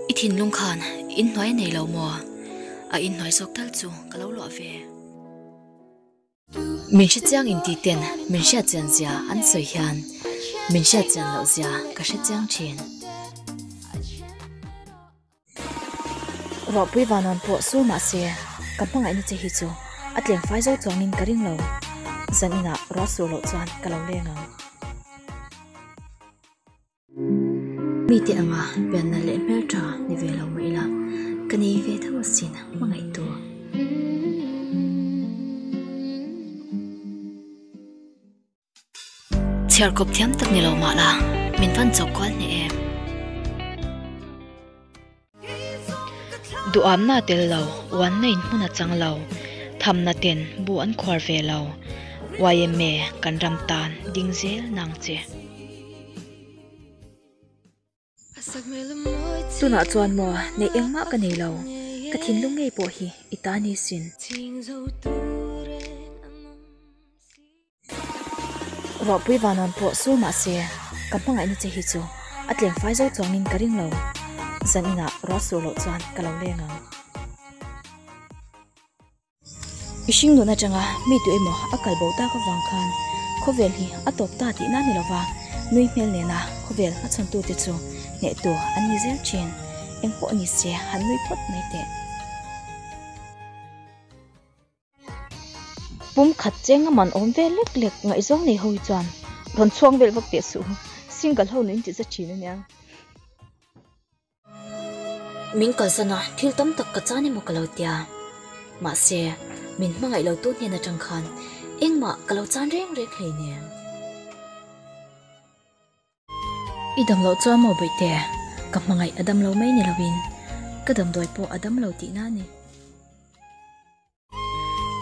I thinlung khan in hnuai nei lo maw? A in hnuai zawk tal chu ka lo luah ve. Min hre chiang in tih ten min hriat chian zia an sawi hian min hriat chian loh zia ka hre chiang thin. Ruahpui vanwa'n pawh saw mahse, ka hmangaihna che hi chu a tlenfai zo chuangin ka ring lo. Zan inah ruah sur loh chuan ka lo leng ang. Mite anga pian nalh leh hmel tha ni ve lo mah ila, ka nei ve deuh asin a hmangaih tur. Chhiar kawp thiam tak ni lo mah la, min van chawk kual hneh em. Duhawmna a tel lo, uanna in hmun a chang lo, thamna ten bu an khuar ve lo, yma kan ram tan ding zel nang che. Tunah chuan maw neih engmah ka nei lo, ka thinlung ngei pawh hi i ta nisin. Ruahpui vannawn pawh sawi mah se, ka hmangaihna che hi chu a tlengfai zo chuangin ka ring lo. Zan inah ruah sur loh chuan ka lo leng ang. Mihring luhna atanga mi duh emaw a kal boh tak avang khan khawvel hi a tawp ta tih na a ni lo va, nui hmel nena khawvel a chhawn tute chu hneh tur an ni zel thin, eng pawh ni se han nui phawt mai teh. Pumkhat cheng a man awm ve lek lek ngaihzawng nei ho hi chuan rawn chhuang vel vak teh suh, single ho nu in tih za thin ania. Min kalsan a, thil tam tak ka chan emaw ka lo ti a, mahse min hmangaih lo tu hnen atang khan engmah ka lo chan reng reng hlei nen. I dam loh chu a maw Bawihtê? Ka hmangaih a dam lo mai ni lo in ka damdawi pawh a dam lo tihna a ni.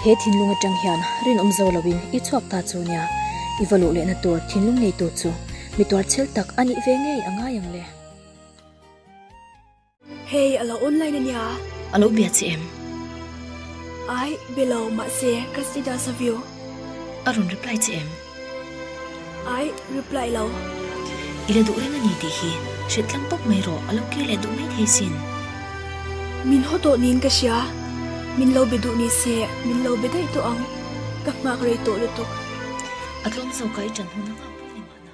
He thinlung atang hian rinawm zo loin i chhuak ta chu nia, i va luh lehna tur thinlung nei tur chu mi tuarchel tak a nih ve ngei a ngai ang le. Hei, a lo online a nia. A lo bia che em? Ai, be lo, mahse ka status a view. A rawn reply che em? Ai reply lo. I la duh reng a ni tih hi. Hrilh tlang pawp mai rawh. A lo kir leh duh mai thei sin. Min haw tawh niin ka hria. Min lo be duh ni se. Min lo be daih tawh ang. Ka nghak rei tawh lutuk. A tlawm zawkah i ṭan hun a nghak pawh ni mahna.